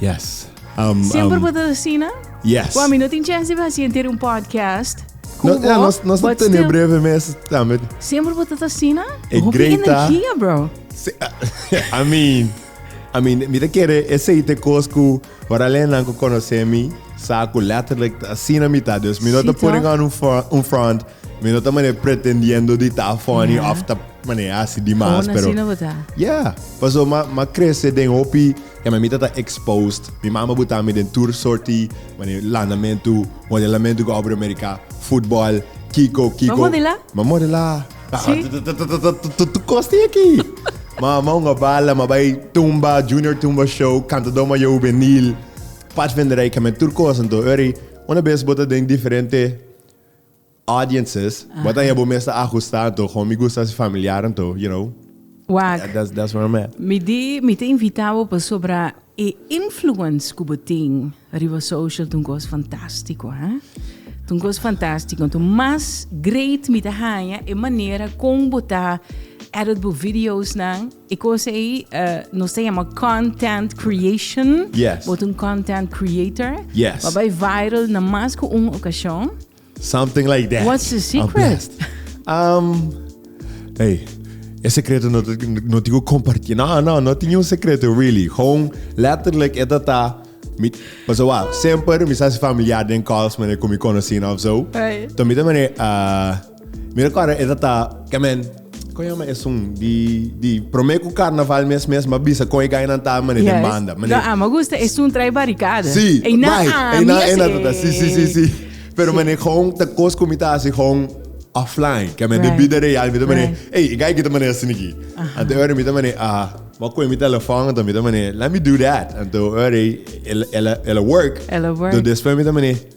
Yes. Um, Siempre um, puedo asina? Yes. Wami, no tin chance de hasi entero un podcast. No, Cubo, ja, nos, nos but tenemos still, breve mes también. Siempre puedo asina? E Hoeveel Greta. energia, bro. Se- I mean, I mean, mira kere aceite cosco, para lena ko conoce mi, saco letterlijk así na mitad. Dus mi no Sí, te putting toch? on un front, un front, mi no te mane pretendiendo di ta funny Ja. of ta mane así di mas, Gewoon pero asina bota. ja, paso ma ma crece den hopi Kè mi mita ta exposed, mi mama buta mi den tur sorti mane lanamentu, modelamentu ku Opera Amerika, futbòl, kiko, kiko. Bo modelá? Mi a modelá. Sí? Tutu kos tin aki. Ma ma un abala, ma bai tumba, junior tumba show, kantadó mayó hubenil, patvenderai, kè mi tur kos. Anto ora ei, una bes bo ta den diferente. Audiences, bo ta hia bo mes ta ajusta anto, kon mi gusta si familiar anto, you know. Wak. That's that's where I'm at. Mi di mi ta invita bo pasobra e influence ku bo tin riba social ta un kos fantastiko, ha? Ta un kos fantastiko. Anto mas great mi ta haña e manera kon bo ta edit bo videosnan. E kos ei nos ta yama content creation. Yes. Bo ta un content creator. Yes. Bo a bai viral na mas ku un okashon. Something like that. What's the secret? Um, hey, e secreto no, no te compartir. No, no, no tiene un secreto, really. Gewoon letterlijk, e tata. Mi, maar zo wel, semper, mi zijn familiar den calls, maar ik kom je kunnen zien of zo. Hey. Toen mi de meneer, uh, mi recorda, e tata, kamen, Kon yama esun di di prome ku karnaval mes mes ma bisa kon e gainan ta mane den banda. Mane. Lo ama gusta esun trai barikada. Si, eina ami. Eina eina tata. Si si si si. Pero mane kon ta kos ku mi ta hasi kon offline. Ke mane den bida real mi ta mane ey e gai kita mane asin aki. Anto e ora mi ta mane ah ma koe mi telefon anto mi ta mane let me do that. Anto e ora ey ela ela work. Ela work. Anto despues mi ta mane.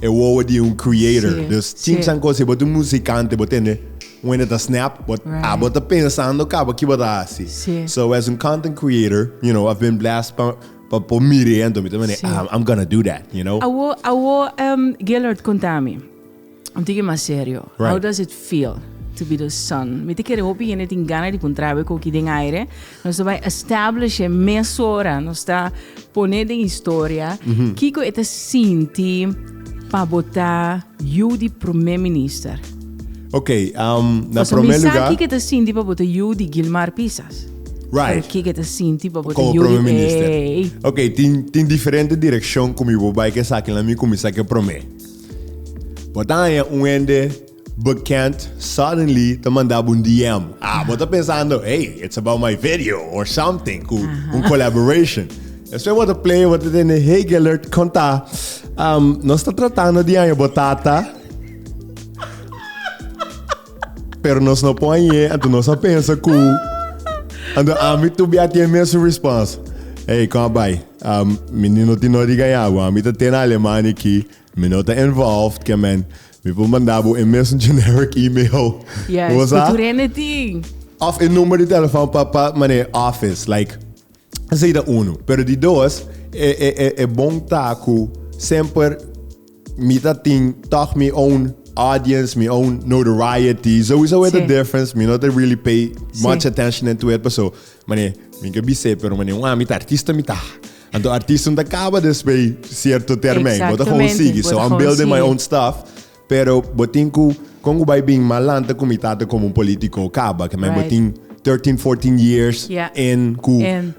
E wowo di un creator. Sí, dus tin sí. chan cos, si bo ta un musicante, bo tende un hende ta snap, bo, right. a bo ta pensando cabo ki bo ta haci. Sí. So as un content creator, you know, I've been blessed pa, pa, pa mire en mi ta mene, sí. I'm, ah, I'm gonna do that, you know. Awo, awo, um, ehm, Gillard, contami, un tiki mas serio. Right. How does it feel? to be the sun. Mi te kere hopi hende tin gana di puntrabe ko ki den aire. Nos ta bai establish e mesora nos ta pone den historia kiko e ta sinti pa bo ta yu di prome minister. Ok, um, na Paso mi prome sa lugar, kiko e ta sinti pa bo ta yu di Gilmar Pisas. Pero right, kiko e ta sinti pa bo ta como yu prome di minister. ei. Ok, tin, tin diferente direccion cu mi bo bai cu esakinan mi cuminsa cu e prome. Bo ta haña un hende Bekend suddenly ta manda bo un DM. Ah, bo ta pensando, Hey, it's about my video or something, ku un collaboration. Despues bo ta play, bo ta tende Hegelert konta, Um, nos ta tratando di haña bo tata, pero nos no por hañ'é, anto nos a pensa ku, anto ami tur bia tin e mesun response, Hey, kon a bai? Um, mi no tin nodi gaña bo, ami ta tende Alemania aki, Mi no ta involved ke men. Mi por manda bo e mesun generic email. Yes, Bo sa? ku tur hende tin. Of e number di telefon pa pa manera office like esei ta uno. Pero di dos e e e e bon ta ku semper mi ta tin tog mi own audience, mi own notoriety. Souiso e ta Sí. difference. Mi no ta really pay much Sí. attention into it paso manera mi ke bis'e pero manera un ami ta artista mi ta Anto artisnan ta kaba despues sierto termen. Bo ta Exactamente, gewoon sigui. bo So ta I'm gewoon building my sigui. own stuff. Pero bo tin ku kon ku bai bin mas lanta ku mi tata komo un politico kaba. Ke men bo Right. tin 13, 14 years Ja. in ku En,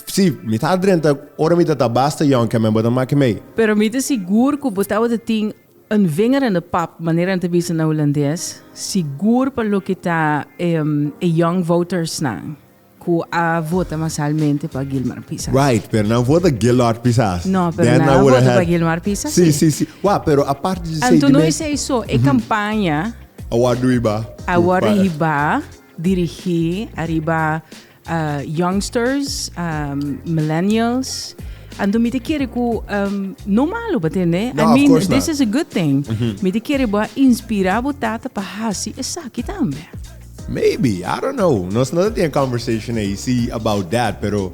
si mi tata drenta ora mi tata basta young ke men bo ta make mee. pero mi ta sigur ku bo tabata tin een vinger in de pap, manera nan ta bisa na Hulandes, sigur pa loke ta em, e young votersnan. Cu a vota masalmente pa Guilmar Pisa. Right, pero nan vota Gillard Pisas. No, pero Then nan a I would vota have- pa Guilmar Pisa, Sí, sí. sí, sí. Wauw, pero aparte de Anto Sadie no May, is ei so, e campaña a war doe ba. a worde hiba dirigí arriba ah, youngsters, ah, millennials. Anto mi te quiere cu, um, no malo, pa tende? No, I of mean, course this not. is a good thing. Mi te quiere bo a inspira bo tata pa hasi esaki tambe. Maybe, I don't know, nos no ta tin e conversation ei si about that, pero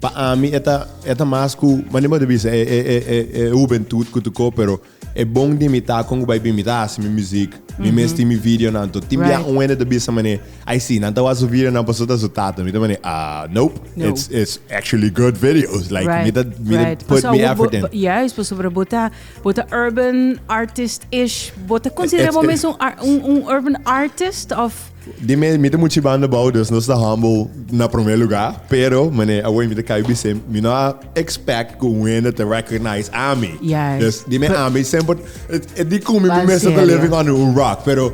pa ami e ta e ta mas ku mane bo ta bisa e e e e hubentut ku tu ko pero e bon di mi ta kon ku bai bin mi ta hasi mi muzik, mi mes tin mi videonan to. Tin bia Right. un hende ta bisa mane ai si nan ta wak su videonan paso ta su tata, mi ta mane ah nope, No. it's it's actually good videos like Right, mi ta mi ta right. put Pasobra mi bo- effort in. bo- Juist, pasobra bo ta Bo ta urban artist-ish. Bo ta considera bo mes un urban artist of? Di mi, mi ta muchi banda bou, dus nos ta humble na prome luga. Pero, mane, awor mi ta kai bisé, mi no a expect cu un hende ta recognize ami. Yes. Dus di mi ami semper, e di cu mi mi mester ta living under un rock, pero.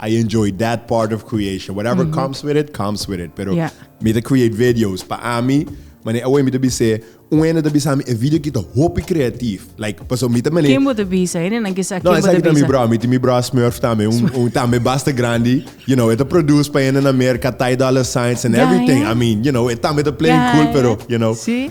I enjoy that part of creation. Whatever comes with it, comes with it. Pero Yeah. mi ta create videos. Pa ami, manera awor mi ta bis'e, un hende ta bisa mi e video aki ta hopi creatief. Like, paso mi ta manera... Kimbo te bisa? Hende nan kisa No, kimbo esa te ki ta mi bisa? bro. Mi tin mi bro Smurf tambe. Un, un tambe basta grandi. You know, e ta produce pa hende na Merca, Ty Dolla Signs and Ja, everything. ja. I mean, you know, e tambe ta playing Ja, cool, ja. pero, you know. Sí.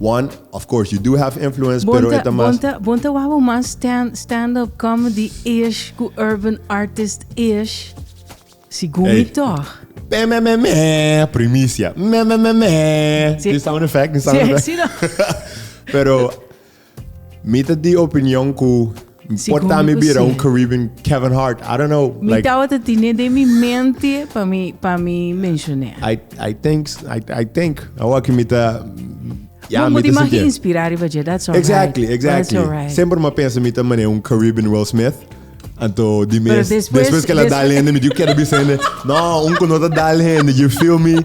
One, of course you do have influence Bon pero e ta, ta mas. bon ta, bon ta wou mas stand, stand up comedy ish ku urban artist ish? Si gumi Hey. tòg. Pe me me me primicia. Me me me me. Sí. Di sound effect, di sound Sí, effect. sí, no. Pero mi ta di opinion ku Por ta mi bira un Caribbean Kevin Hart. I don't know. Mi like, tawata tine de mi mente pa mi, pa mi mencioné. I, I think, I, I think. Awa ki mi ta... Ja, mi ta mag inspirar riba je, that's alright. Exactly, exactly. That's alright. Sempre ma pensa mi ta mané un Caribbean Will Smith. Anto di mes, después, después que la dale hende, mi digo, quero bisa hende. No, un que no ta dale hende, you feel me?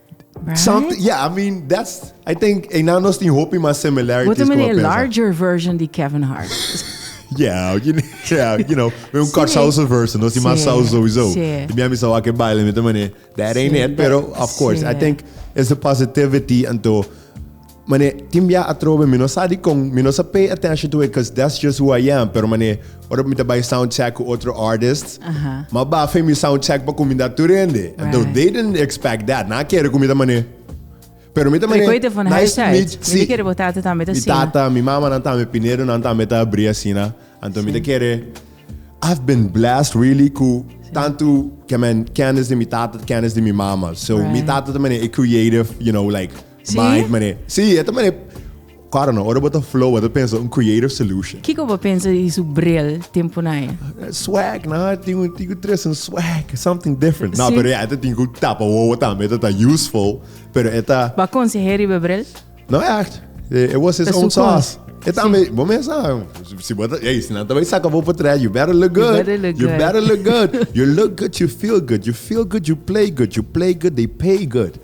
Right? Somet, yeah, I mean, that's, I think, einan nos tin hopi mas similarities. Bote como meneer, a pensa. larger version di Kevin Hart. Yeah, you know, yeah, you know. We un Sí. kort salsa version, no si Sí, mas salsa sowieso. sí. I Miami sawa ke baile met een manier. That ain't Sí, it, pero that- of course, I sí. think it's the positivity and to Mane, tin bia atrobe mi no sa dikon mi no sa pay attention to it cuz that's just who I am, pero mane ora mi ta bai sound check ku otro artist, m'a bafe mi sound check pa kuminda tur hende. Anto they didn't expect that, nan a kere ku mi ta mane. Pero mi ta mane, Trikoi ta for nice to meet, high-tech. Mi ta kere bo tata tambe ta mi asina. tata, mi mama nan tambe, Pinedo nan tambe ta abri asina. Anto mi ta kere, I've been blessed really ku tantu kemen kennis di mi tata, kennis di mi mama. So mi tata ta mane, e creative, you know, like Mike mane. Sí, e ta mane. Karo no, ora bo ta flow, bo ta pensa un creative solution. Kiko bo pensa di su bril tin puna e? Swag, no? Tin un tin ku tres un swag, something different. No, Sí. pero ya, e ta tin ku tapa wowo tambe, e ta ta useful, pero e ta... Bo a konseh'é riba e bril? No ègt. E e was his Ta own su sauce. kons. E tambe, bo mes sa, si bo ta, ey, si nan ta bai saka bo potrèt, you better look good. better look You good. better look good. You look good, you feel good. You feel good, you play good. You play good, they pay good.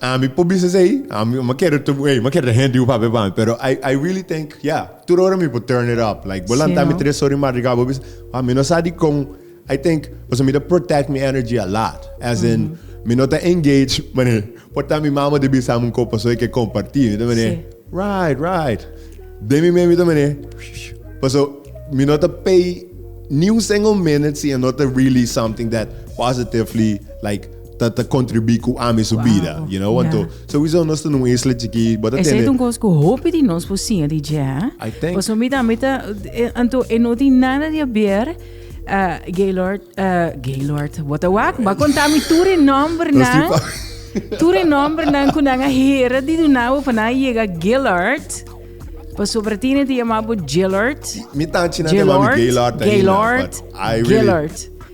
Ami por bisa esei, ami m'a kere tur, ey, m'a kere ta hende cu papia pa mi, pero I, I really think, yeah, tur ora mi por turn it up, like, bo lanta Sí, mi no. tres ora di madrugada, bo bisa, wow, mi no sa di con, I think, pasobra mi ta protect mi energy a lot, as in, mi no ta engage, mane, por ta mi mama ta bisami un copa so y ke comparti, mi ta mane, Sí. right, right, den mi mes mi ta mane, pasobra mi no ta pay ni un single minute si e no ta really something that positively, like. ta ta contribuí cu ami su bida, you know, want to. So we zo nos ta nun isla chikí, bo ta tene. Esa un cos cu hopi di nos por siña di dje, ha? I think. Paso mi tambe ta, anto e no tin nada di aber. Uh, Gaylord, uh, Gaylord, bo ta wak, ba conta mi tur e nomber nan. Tur e nomber nan cu nan a hera di dunabo pa nan yega Gaylord. Paso para tine te yamabo Gaylord. Mi tan china te mami Gaylord. Gaylord, Gaylord. Gaylord.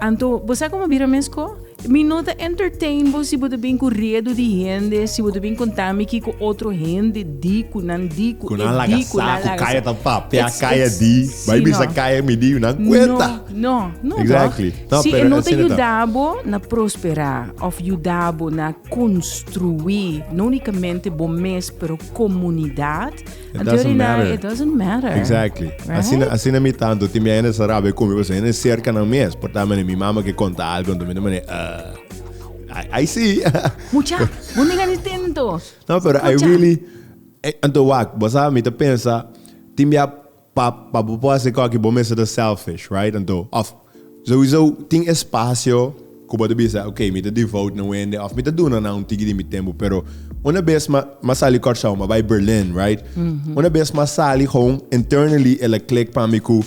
Anto bo sa como bira mes ko? Mi no ta entertain bo si bo ta bin ku redu di hende, si bo ta bin konta mi kiko otro hende di, ku nan di, ku e di, ku nan laga sa. Ku nan laga sa, ku kaya ta papia kaya di, bai bisa kaya mi di, nan kuenta. No, no, no tòg. Si e no ta yuda bo na prospera of yuda bo na konstruí no unikamente bo mes, pero komunidat. It Anto doesn't di la, matter. it doesn't matter. Exactly. Right? Asina, asina mi tanto, tin mi hende sa rabe con mi, pues hende cerca nan mes. Por ta mi mama que conta algo, entonces mi no mane, uh, I, I see. Mucha, bon diga ni tento. No, pero I Escucha. really, eh, anto wak, bo sa, mi te pensa, tin bia pa, pa bo po hacer kaki, bo mesa ta selfish, right? Anto, of, Souizo tin espacio cu bo ta bisa, ok, mi ta devote na wende of mi ta duna nan un tigi di mi tempo, pero una bes ma ma sali Curaçao, ma bay Berlin, right? Una bes ma sali gewoon internally el a click pa mi cu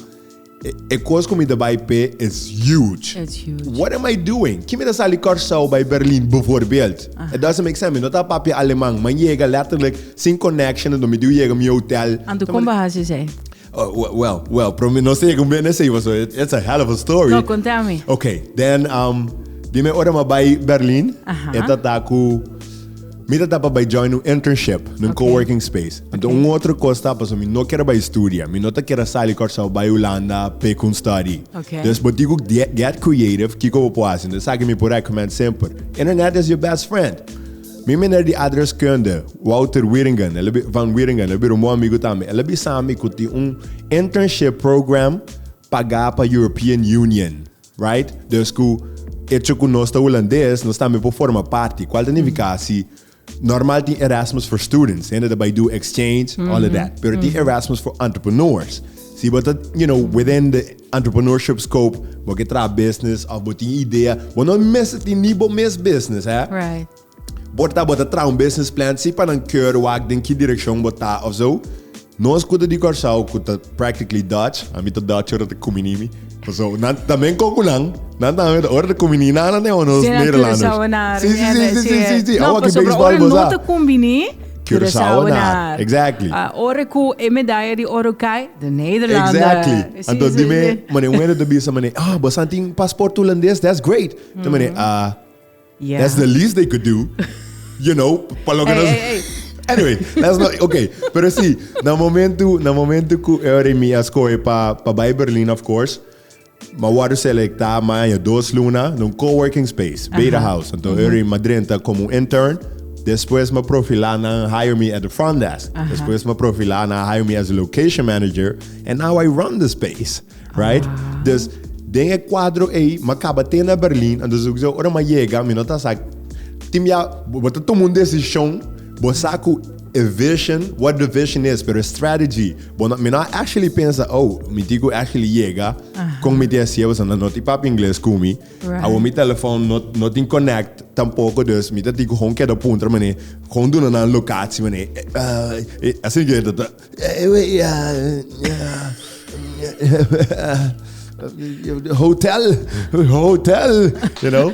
e e cos cu mi ta bay p'e is huge. It's huge. What am I doing? Ki mi ta sali Curaçao bay Berlin bevoorbeeld? It doesn't make sense. Mi no ta papia Aleman. M'an yega letterlijk sin connection, anto mi diu yega mi hotel. Anto con bo haci esey? Oh, we- well, well, pero mi no sé cómo viene así, so it- it's a hell of a story. No, contá mi. Ok, then, um, dime ora ma bij Berlin. Aha. E tata ku... Mi tata pa bij join un internship, een Ok. coworking space. En toen un otro kos tapa, so mi no kere bij studia. Mi no te kere sali Curaçao bij Holanda, pe kun study. Ok. Dus botik ook die- get creative, kiko we po hasi. Dus saki mi po recommend semper. Internet is your best friend. Mi meneer di aardrijkskunde, Wouter Wieringen, el a bi, van Wieringen, el a bira un bon amigu tambe. El a bisa mi ku tin un internship program pagá pa European Union, right? Dus ku echo ku nos ta hulandes, nos tambe por forma parti. Kual ta nifiká si normal tin Erasmus for students, hende ta bai do exchange, all of that. Pero tin Erasmus for entrepreneurs. Si bo ta, you know, within the. Entrepreneurship Scope, Bo ke traha business of bo tin idea, bo no mester tin ni bo mes business hè. Right. Bo ta bo ta traha un business plan si pa nan keur wak den ki direccion bo ta of zo. Nos ku ta di Kòrsou ku ta practically Dutch, a mi ta Dutch ora ta kumini mi, paso nan ta men kon ku nan, nan ta men ora ta kumini nan nan den ho nos Nederlanders. Si nan interesado na rimi èn, si. Si si si si si si. No, pasobra ora no ta kumbini. Curaçaoenaar. Exactly. Uh, ora ku e medaya di oro kai, de Nederlander. Exactly. Sí, Anto sí, dime, sí. mane, un de bisa mane, ah, oh, basan tin paspoort Holandes, that's great. Mm -hmm. De mane, ah, uh, yeah. that's the least they could do. you know, pa lo que hey, nos... Hey, hey. Anyway, that's not, okay. Pero sí, na momento, na momento ku e ora mi askoe pa, pa bai Berlin, of course, Ma wòrdu selektá maña dos luna na un coworking space, Beta House. Anto Eury m'a drenta komo un intern. Despues m'a profilá nan hire mi at the front desk. Despues m'a profilá nan hire mi as a location manager and now I run the space, right? Dus den e kuadro ei m'a kaba te na Berlin anto su kusé ora m'a yega mi no ta sa tin bia bo ta tuma un desishon, bo sa ku e vision, what the vision is pero e strategy, Bueno, mi no a actually pensa, oh, mi tin ku actually yega, kon mi tin hasié, pasobra nan no tin papia ingles ku mi, awor mi telefòn no, no tin connect tampoko, dus mi ta tin ku hon keda puntra, mané, hon duna nan locatie, mané, eh, asina ku henter ta, hotel, hotel, you know.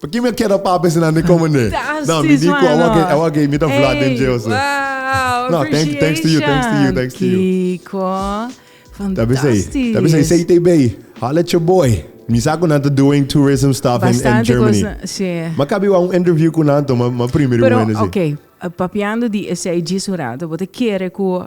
Porque mi a keda pa bes nan de comende. No, mi di cu a wak a wak mi ta vla den dje oso. No, thanks thanks to you, thanks to you, thanks to you. Kiko, fantastisch. Tabi say say TB, holla at your boy. Mi sa cu nan ta doing tourism stuff in Germany. Ma kabi wak un interview cu nan to, ma primero wende si. Pero ok, papiando di esey djis un rato, bo ta kere cu.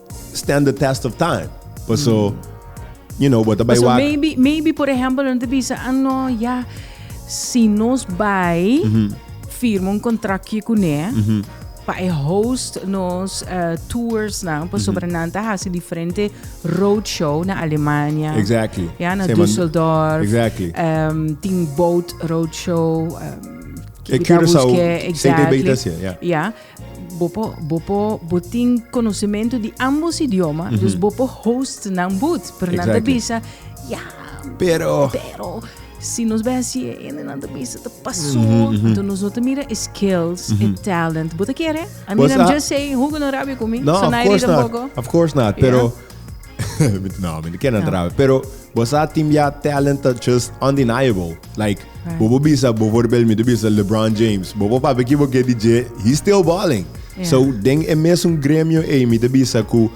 stand the test of time paso you know bo ta bai wak. Maybe maybe por ejemplo no te bisa ah no ya si nos bai firma un contractje cune pa e host nos tours nan pasobra nan ta haci diferente road show na Alemania ya na Düsseldorf tin boat road show kibi ta busque exactly ya. Bo por bo por bo tin conocimento di ambos idioma dus bo por host nan booth pero nan ta bisa ya pero pero si nos bai hasi e ene nan ta bisa ta pasoa entonces nos no ta mira e skills e talent bo ta kere I mean I'm just saying hoeku nan rabia cu mi no of course not of course not pero no mi no ken nan ta rabia pero bo sa tin bia talent ta just undeniable like Bo por bisa, bo for bel mi ta bisa LeBron James. Bo por papia ki bo ke di dje, he's still balling. Yeah. So den e mesun gremio ei mi ta bisa ku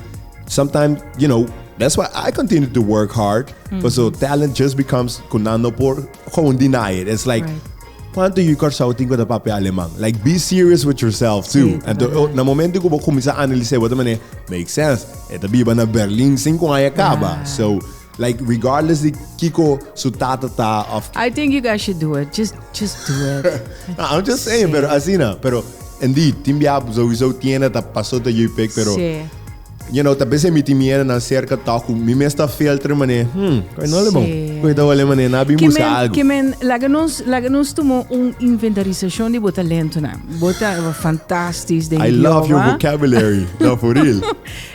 sometimes, you know, that's why I continue to work hard. Mm -hmm. So talent just becomes ku nan no por gewoon deny it. It's like right. Quanto you Curaçao think with a papia alemán? Like, be serious with yourself too. Sí, Entonces, oh, na momento que vos comienzas a analizar, vos también, make sense. Esta biba na Berlín, cinco años acaba. Yeah. So, Like regardless di kiko su tata ta of. I think you guys should do it just just do it. no, I'm just saying, sí. pero asina, pero indeed tin bia sowieso tiene ta paso ta JPEG, pero sí. you know, tal vez mi tin miedo na cerca toku, mi mes ta filter mané. Hmm, no le bon. Koi ta wale mané na bi busca men, algo. Que men laga nos laga nos tomo un inventarización de bota lento na. Bota fantastisch de I love your vocabulary. no, for real.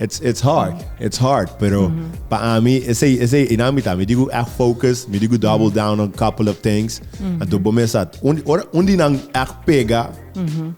It's it's hard. It's hard, pero mm -hmm. pa ami ese ese inamita mi digo echt focus, mi digo double mm -hmm. down on a couple of things. Mm -hmm. Anto bomesat un or un di nang echt pega. Mm -hmm.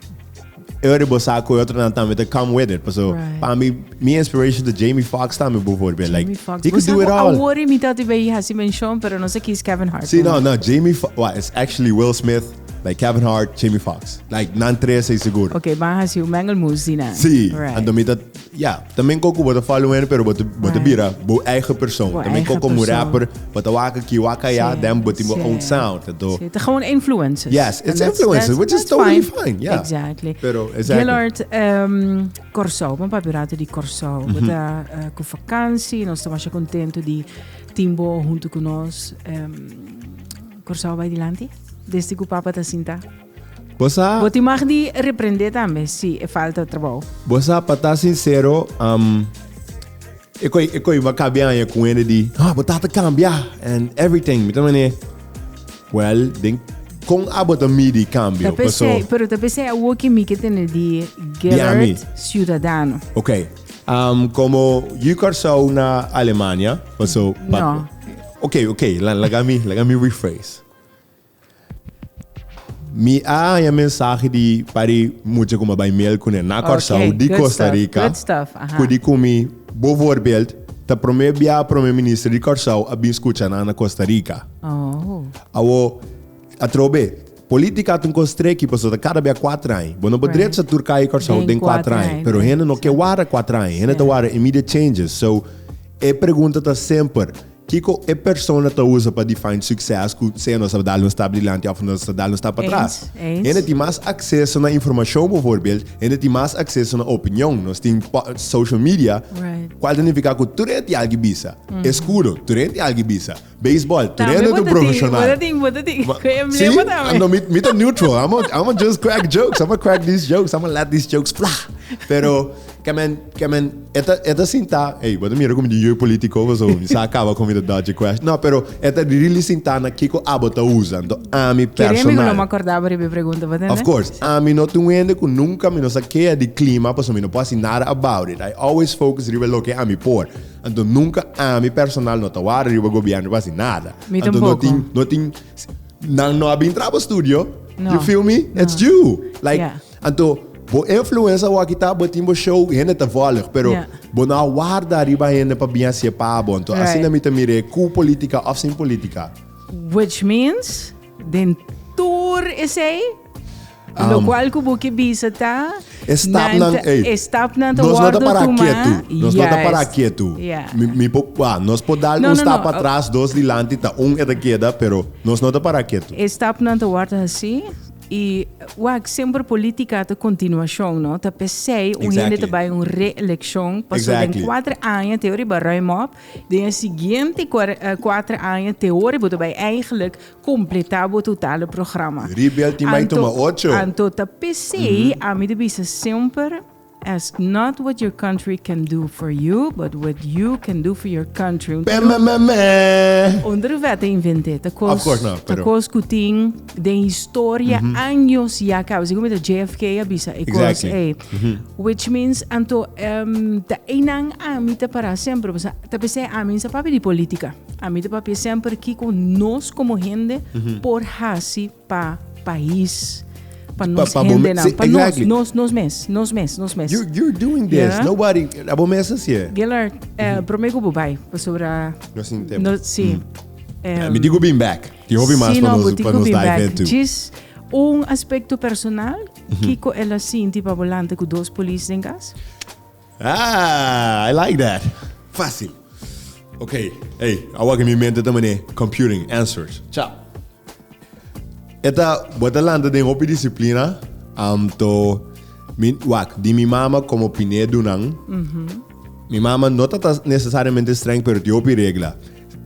Ere bosa ko otro nan tambe te come with it. Paso right. pa mi mi inspiration de Jamie Foxx tambe bijvoorbeeld. Like Fox. he could do it all. Awori mi tati be hasi mention, pero no sé kies Kevin Hart. Sí, no, no, Jamie Foxx, well, it's actually Will Smith. Like Kevin Hart, Jamie Foxx. Like nan tres ei seguro. Ok, ban hasi un mengelmoes di nan. Sí, right. anto mi ta, ja, también koko bo ta follow hende, pero bo ta, bo ta Right. bira bo eigen persoon. Bo También eigen koko mo persoon. rapper, bo ta wak aki, wak allá, Sí, dan bo tin bo sí. own sound. Anto, Sí, te gewoon influencers. Yes, it's And that's- influencers, that's- which is that's totally fine, yeah. Exactly. Pero, exactly. Gillard, ehm, Curaçao, vamos para Pirato di Curaçao. Mm Bota eh, con vakantie, nos estamos contento di timbo junto con nos. ehm, Kòrsou bai dilanti desdi ku papa ta sintá. Bo sa. Bo tin mag di reprendé tambe si e falta trabou. Bo sa, pa ta sinsero, am, e koe e koe mi a kabia aña ku un hende di, Ah, bo tata kambia and everything. Mi ta man'é, Well, den kon abo ta midi kambio? Ta Paso. p'esei, pero ta p'esei awor ke mi ke tene di Di ami. Gellert Ciudadano. Oké, am, komo yu Kòrsou na Alemania, paso. pa- No. Ok, ok, laga mi, laga mi rephrase. Mi a haña mensaje di pari mucha ku ma bai miel kuné na Kòrsou, Ok, di good Costa stuff, Rica, good stuff, aha. ku di kumi, bovoorbeeld, ta promé bia promé minister di Kòrsou a bin skucha nan na Costa Rica. Oh. Awo, atrobe, Politica ta un cos treki paso ta cada bia cuatro aña. Bo no por drecha tur caya Curaçao den cuatro aña. Pero hende no ke warda cuatro aña. Hende ta warda immediate changes. So, e pregunta ta semper, Kico e persona ta usa pa define succes cu sea nos a dal un stap dilanti of nos a dal un stap atras? Hende tin mas acceso na informacion bovoorbeeld, hende tin mas acceso na opinion. Nos tin social media, cual ta nifica cu tur hende tin algi bisa. Escuro, tur hende tin algi bisa. Beisbòl, trene tu profeshonal. Sí, no, mi, mi ta neutral. I'ma, I'ma just crack jokes. I'ma crack these jokes. I'ma let these jokes fly. Pero, ke men, ke men, e ta, e ta sinta, ey, bo ta mira ku mi di yu e politico paso mi sa kaba ku mi ta dodge e question. No, pero e ta really sinta na kiko abo ta usa. Anto ami personal. Kere mi ku lo ma kordaba riba e pregunta, bo tende? Of course. Ami no ta un hende ku nunka mi no sa kea di klima paso mi no por hasi nada about it. I always focus riba loke ami por. Anto nunka ami personal no ta wari riba gobièrnu pa hasi nada. Mi Anto no tampoco. tin, no tin, s- nan no a bin traha bo studio. No, You feel me? no. It's you. Like, Ja. anto bo influensa bo a kita, bo tin bo show, hende ta vòlg, pero Ja. bo no a warda riba hende pa bin hasi'e pa bo. Anto Right. asina mi ta mir'e, ku politika of sin politika. Which means, den tur esei, Um, Lo cual cu buki bisa ta... Estapnan, nan, ey, estapnan te nos no te para tuma. quieto. Nos yes. no te para quieto. Yeah. Mi, mi po, ah, nos po dar no, un no, stap no. atrás, dos dilanti, ta un e queda, pero nos no te para quieto. Estapnan te warda así. Y wak siempre política te continuación, no? Te pesei un exactly. hende te bij un reelección. Pas exactly. den cuatro años te ori bij ruim op. Den siguiente cuatro años te ori te bij eigenlijk Completá bo totale programa. Rebel tin bay tuma ocho. Anto ta PC, ami ta bisa semper, Ask not what your country can do for you, but what you can do for your country. Pemememe! Un driveta a invent'é ta cos. Of course not, pero. Ta cos cu tin den historia años ya caba. Así como ta JFK a bisa e cos ey. Exactly. Which means, anto, em, ta eynan ami ta para semper, pasobra ta PC ami n'sa papia di politica. Ami ta papia semper kiko nos komo hende por hasi pa pais, pa nos hendenan, pa nos, nos mes, nos mes, nos mes. You're doing this, nobody, a bo mes hasi e. Gellert, prome ku bo bai, pasobra, no sin tempo, si. Mi tin ku bin back, tin hopi mas pa nos dive in too. Djis un aspekto personal, kiko el a sinti pa bo lanta ku dos polis den kas? Ah, I like that. Fácil. Ok, ey, awa ke mi mente ta mané computing answers. Cha. E ta, bo ta lanta den hopi disiplina, am to, mi, wak, di mi mama komo piné dunan, mi mama no ta ta nesesariamente streng, pero tin hopi regla.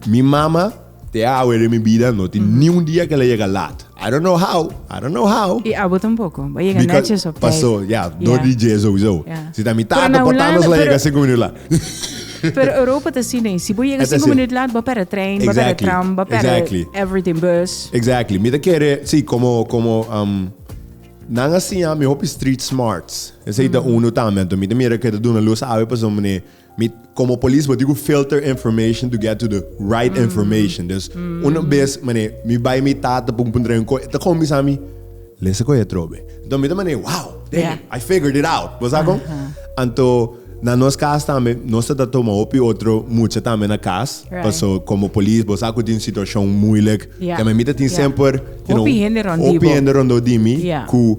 Mi mama. Te awe den mi bida no tin ni un dia ke la yega laat. I don't know how, I don't know how. I abo tampoko, bo yega Because netjes op tijt. paso, ya, dor di dje souzo. Ya. Si ta mi Pero tata, na por Holanda, tandas la pero- yega sinku minut laat. Pero Europa ta así nee. Si bo yega E ta sinku así. minuut laat, bo perde trein, bo perde Exactly, tram, bo perde exactly. everything, bus. Exactly. Mi ta kere, sí, como, como, um, nan a siña mi hopi street smarts. Esei ta uno tambe. Anto mi ta mira ke ta duna luz awe pasobra mi ne Mi komo polis bo di ku filter information to get to the right information. Dus una bes mane mi bai mi tata pun pun traen koi, e ta kombisa mi, lesa koi atrobe. Anto mi ta mane, wow, damn it, I figured it out. Bo sa kon? Anto na nos kas tambe nos ta ta tuma hopi otro mucha tambe na kas, paso komo polis bo sa ku tin situashon muilik, tambe mi ta tin semper, you know, hopi hende rondó di mi ku.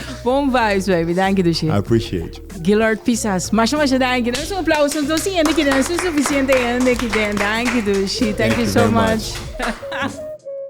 Bon vibes, baby. Danki, Dushi. I appreciate you. Gillard Pisas. Masha, masha danki. Dame un aplauso. Ons dos hende ki den, su suficiente hende ki den. Danki, Dushi. Thank you so much.